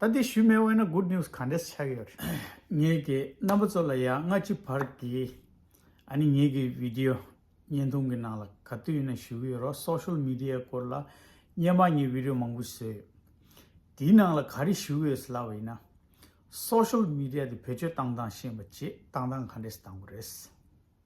ད་ལྟའི་ཤུལ་མེད་དབེན་ན good news ག་འདྲས་ཆགས་ཡོད་རེད། ངེད་ཀྱི་རྣམ་པ་ཚོ་ལ་ཡང་སྔ་ཕྱི་བར་གྱི་ཨ་ནི་ངེད་ཀྱི video བརྙན་ཐུང་གི་ནང་ལ་ག་དུས་ཡིན་ན་ཞུ་གི་ཡོད་རོགས social media སྐོར་ལ་བརྙན་མ་ངེད video མང་པོ་བཟོས་ཡོད། དེའི་ནང་ལ་ག་རེ་ཞུ་གི་ཡོད་ཟེར་ལབ་པ་ཡིན་ན། social media དེ་བེད་སྤྱོད་བཏང་བཏང་ཤེས་མ་བྱེད་བཏང་བཏང་ག་འདྲས་བཏང་པ་རེད།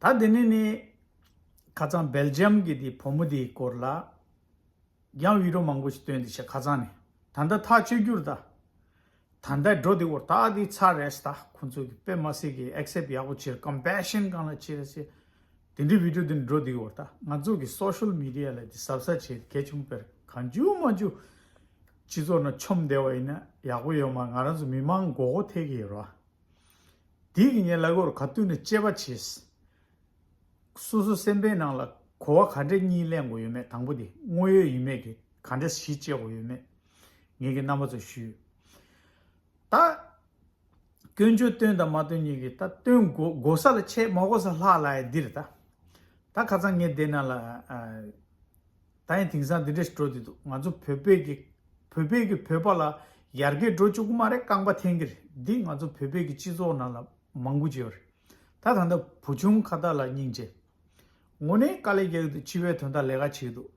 ད་དེ་ནས་ནི། ཁ་ཚང་སྦེལ་ཇི་ཡམ་གྱི་དེའི་བུ་མོ་དེའི་སྐོར་ལ། ཡང་བྷིད་རོ་མང་པོ་ཞིག་བཏོན་ཏེ་བཤད་ཁ་ཚང་ནས། ད་ལྟ་ཐག་གཅོད་རྒྱུར་ད། ད་ལྟའི་འགྲོ་དེ་བོར་ད་དེའི་ཚ་རེས་ད་ཁོང་ཚོས་གི་པེ་མ་སི་གི་ཨེག་སེབ་ཡག་པོ་བྱེད Compassion གང་ལ་བྱེད་སེ། དེ་འདྲའི་བྷིད་རོ་དེ་འགྲོ་དེའི་བོར་ད་ང་ཚོ་གི Social Media ལ་དེ་ཟབ་ཟབ་བྱེད་གལ་ཆུང་བེར་གང་ཅུང་མ་ཅུང། སྤྱི་ཚོགས་ན་ཆོམ་བདེ་བ་ཡིན་ན་ཡག་པོ་ཡོད་མ་ང་རང་ཚོ་མི་མང་མགོ་གོ་ཐེག་གི་ཡོད་རོ། དེས་ཀྱི་ཉེ་ལ་གོར་ག་བཏུལ་ནས་དཔྱད་པ་བྱས། སོ་སོ་སེམས་པའི་ནང་ལ་གོ་བ་ག་འདྲེ་གཉིས་གླེང་དགོས་ཡོད་མེད་དང་པོ་དེ་དངོས་ཡོད་ཡིན་མེད་ཀྱི་ག་འདྲེ་གཞི་བཅས་དགོས་ཡོད་མེད་ངེད་ཀྱི་རྣམ་པ་ཚོ་ཞུས། ད། སྐྱོན་བརྗོད་སྟོན་དང་མ་སྟོན་གཉིས་ཀྱི་ད་སྟོན་དགོས་ས་ལ་ཆེས་མ་གོ་ས་ལྷག་ལ་ཡ་འདིར་ད། ད་ཁ་ཚང་ངེད་སྡེ་ནང་ལ། ད་ཡིན་དེང་སང་འདི་འདྲས་འགྲོ་བསྡད་འདུག་ང་ཚོ་བོད་པས་ཀྱི། བོད་པས་ཀྱི་བོད་པ་ལ་ཡར་རྒྱས་འགྲོ་བཅུག་གི་མ་རེད་རྐང་པ་འཐེན་གི་རེད་འདི་ང་ཚོ་བོད་པས་ཀྱི་སྤྱི་ཚོགས་ནང་ལ་མང་པོ་བྱས་པ་རེད། ད་ད་ལྟ་བུ་ཆུང་ཁ་བརྡ་ལ་སྙིང་རྗེ། ངོ་ནས་དཀའ་ལས་རྒྱག་གི་འདུག་སྤྱི་བའི་དོན་དག་ལས་ཀ་བྱེད་འདུག་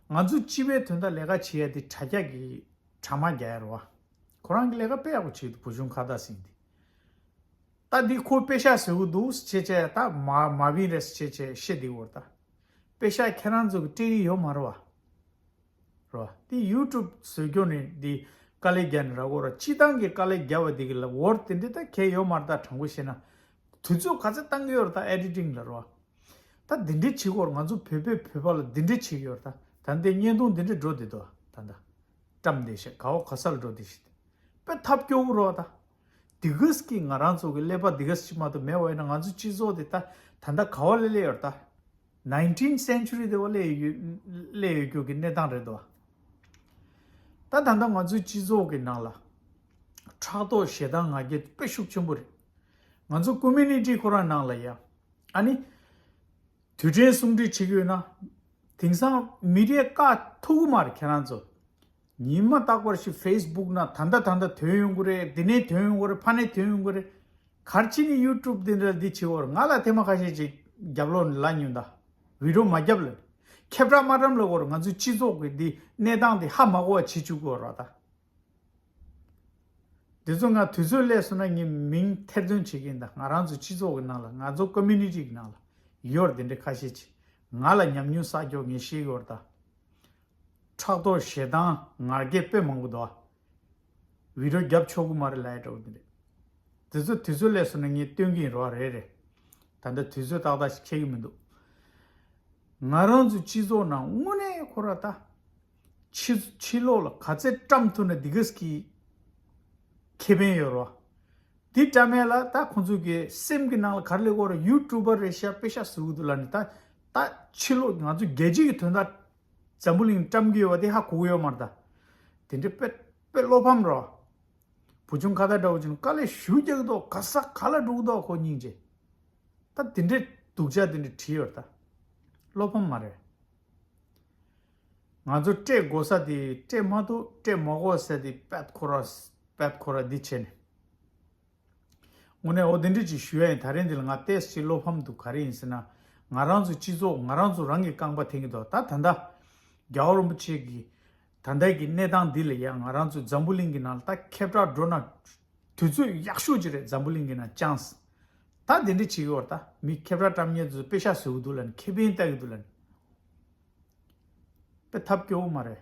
ང་ཚོ་སྤྱི་བའི་དོན་དག་ལས་ཀ་བྱེད་ཡ་འདི་དྲ་རྒྱ་གི་དྲ་མ་རྒྱ་ཡར་བ། ཁོ་རང་གི་ལས་ཀ་དཔེ་ཡག་པོ་བྱེད་འདུག་བུ་ཆུང་ཁ་བརྡ་ཟིན་འདི། ད་འདི་ཁོ་དཔེ་ཤ་ཟེར་གི་འདུག་ཅེས་བྱས་ད་མ་མ་བིན་རེད་ཟེར་ཅེས་བྱས་ཤེས་འདི་འོར་ད་དཔེ་ཤ་ཁྱེད་རང་ཚོ་གི་སྤྲད་གི་ཡོད་མ་རེད་བ། རེད་བ། འདི YouTube ཟོས་སྐྱོ་ནི་འདི་དཀའ་ལས་རྒྱ་ནི་ར་གོ་ར་སྤྱི་བཏང་གི་དཀའ་ལས་རྒྱ་བ་འདི་གི་ལ་འོར་དེ་འདྲི་ད་གལ་ཡོད་མ་རེད་ད་དྲང་པོ་བཤད་ན། དུས་ཚོད་ག་ཚད་བཏང་གི་ཡོད་རེད་ད Editing ལ་རེད་བ། ད་འདི་འདྲི་བྱེད་གོར་ང་ཚོ་བོད་པས་བོད་པ་ལ་འདི་འདྲི་བྱེད་གི་ཡོད་རེད་ད་ད་འདི་བརྙན་ཐུང་འདི་འདྲི་འགྲོ་འདི་འདུག་བ་ད་ད། བཀྲམ་འདི་ཞེས་ག་བ་ག་ས་ལ་འགྲོ་འདི་ཞེས་དཔེ་ཐབས་སྐྱོ་གི་རེད་བ་ད། འདི་གས་ཀྱིས་ང་རང་ཚོ་གི་ཀླད་པ་འདི་གས་ཀྱིས་མ་ཏོ་མེད་བ་ཡིན་ན་ང་ཚོ་སྤྱི་ཚོགས་དེ་ད་ད་ལྟ་ག་བ་ལས་སླེ་ཡོད་ད། Nineteen Century དེ་བ་ལས་སླེ་ཡོད་རྒྱུ་གི་གནས་སྟངས་རེད་དོ། ད་ད་ལྟ་ང་ཚོའི་སྤྱི་ཚོགས་གི་ནང་ལ། ཕྲག་དོག་ཞེ་སྡང་ང་རྒྱལ་དཔེ་ཤུགས་ཆེན་པོ་རེད། ང་ཚོ Community ཁོ་རང་ནང་ལ་ཡང། ཨ་ནི། དུས་དྲན་གསུང་འཕྲིན་ཆིག་ཡོད་ན། དེང་སང་མི་རེ་དཀའ་ཐུག་གི་མ་རེད་ཁྱེད་རང་ཚོ། ཉིན་མ་རྟག་པར་ཞིག facebook ན་ད་ལྟ་ད་ལྟ་དོན་ཡོང་གི་རེད་འདི་ནས་དོན་ཡོང་གི་རེད་ཕ་ནས་དོན་ཡོང་གི་རེད། གར་ཕྱིན་ནས youtube འདི་འདྲ་འདི་བྱས་བར་ང་ལ་ཐེངས་མ་ཁ་ཤས་ཅིག་རྒྱབ་ལོག་ནས་ལ་ཉོན་ད། བིརོ་མ་རྒྱབ་ལ། ཁྱབ་བསྒྲགས་མ་བཀྲམ་ལ་བར་ང་ཚོའི་སྤྱི་ཚོགས་ཀྱི་འདི་གནས་སྟངས་འདི་ཧ་མ་གོ་བ་བྱེད་བཅུག་གི་བར་ད། འདི་ཚོ་ང་དུས་ཚོད་སླད་སོང་ན་ངས་མིང་ཐེར་འདོན་བྱེད་ཀྱིན་གདའ་ང་རང་ཚོའི་སྤྱི་ཚོགས་ཀྱི་ནང་ལ་ང་ཚོ Community གྱི་ནང་ལ་ཡོར་དེ་འདྲའི་ཁ་ཤས་ཆེ་ང་ལ་ཉམས་མྱོང་ས་ཀྱོག་ངས་ཤེས་ཡོར་དང། ཕྲག་དོག་ཞེ་སྡང་ངར་སྐད་དཔེ་མང་པོ་འདུག་བི་རོ་རྒྱབ་ཆོག་གུ་མ་རེད་ལའེ་དྲོ་གུ་དེ་འདྲས་འདི་ཚོ་དུས་ཚོད་སླད་སོང་ན་ངས་སྟོན་གྱིན་རོགས་རེད་རེད་ད་ལྟ་དུས་ཚོད་ཏག་ཏག་ཞིག་ཁྱད་ཀྱི་མི་འདུག་ང་རང་ཚོའི་སྤྱི་ཚོགས་ནང་དངོས་གནས་ཁོ་ར་ད་ཕྱི། ཕྱི་ལོགས་ལ་ག་ཚད་བཀྲམ་ཐུབ་ན་དེ་ག་ཟིག་གིས་ཁེ་ཕན་ཡོད་རོ། དེ་བཀྲམ་མེད་ལ་ད་ཁོང་ཚོས་གི་སེམས་གི་ནང་ལ་གར་ལེ་གོར་ཡུ་ཀྲུ་པར་རེ་ཤ་པེ་ཤ་ཟེར་འུ་འདུག་ལ་ནི་ད་ད་ཕྱི་ལོགས་ང་ཚོ་རྒྱལ་སྤྱི་གི་དོན་དག་འཛམ་བུ་གླིང་བཀྲམ་གི་ཡོད་པ་དེ་ཧ་གོ་གི་ཡོད་མ་རེད་ད། དེ་འདྲའི་དཔེ་དཔེ་བློ་ཕམ་རོ། བུ་ཆུང་ཁ་ད་འདྲ་བོ་ཅི་ནུ་དཀའ་ལས་ཞུ་རྒྱག་གི་འདུག་ག་ས་ག་ལ་འགྲོ་གི་འདུག་ཁོ་སྙིང་རྗེ། ད་དེ་འདྲའི་སྡུག་ཅག་དེ་འདྲ་བྲིས་ཡོད་རེད་ད། བློ་ཕམ་མ་རེད། ང་ཚོ་སྤྲད་དགོ་ས་དེ་སྤྲད་མ་ཐུབ་སྤྲད་མ་དགོ་ས་དེ་པད་ཁོ་ར་པད་ཁོ་ར་འདི་བྱས་ནས། དངོས་གནས་འོ་དེ་འདྲི་ཅིག་ཞུ་ཡ་ཡིན་ད་རེས་འདི་ལ་ང་ཏེས་ཅིག་བློ་ཕམ་འདུག་ག་རེ་ཡིན་ཟེར་ན་ང་རང་ཚོའི་སྤྱི་ཚོགས་ང་རང་ཚོ་རང་གིས་རྐང་པ་འཐེན་གི་འདུག་ད་ད་ལྟ་རྒྱ་བོ་རིན་པོ་ཆེ་གིས་ད་ལྟའི་གི་གནས་སྟངས་འདི་ལ་ཡང་ང་རང་ཚོ་འཛམ་བུ་གླིང་གི་ནང་ད་ཁེབ་གྲགས་འགྲོ་ན། དུས་ཚོད་ཡག་ཤོས་ཅིག་རེད་འཛམ་བུ་གླིང་གི་ནང་ཅང། ད་དེ་འདྲ་བྱེད་གི་བར་ད་མི་ཁེབ་གྲགས་བཀྲམ་ཉེ་དུ་དཔེ་ཤག་བཟོ་གི་འདུག་ལ་ནི་ཁེ་ཕན་ལྟ་གི་འདུག་ལ་ནི། དཔེ་ཐབས་སྐྱོ་བོ་མ་རེད།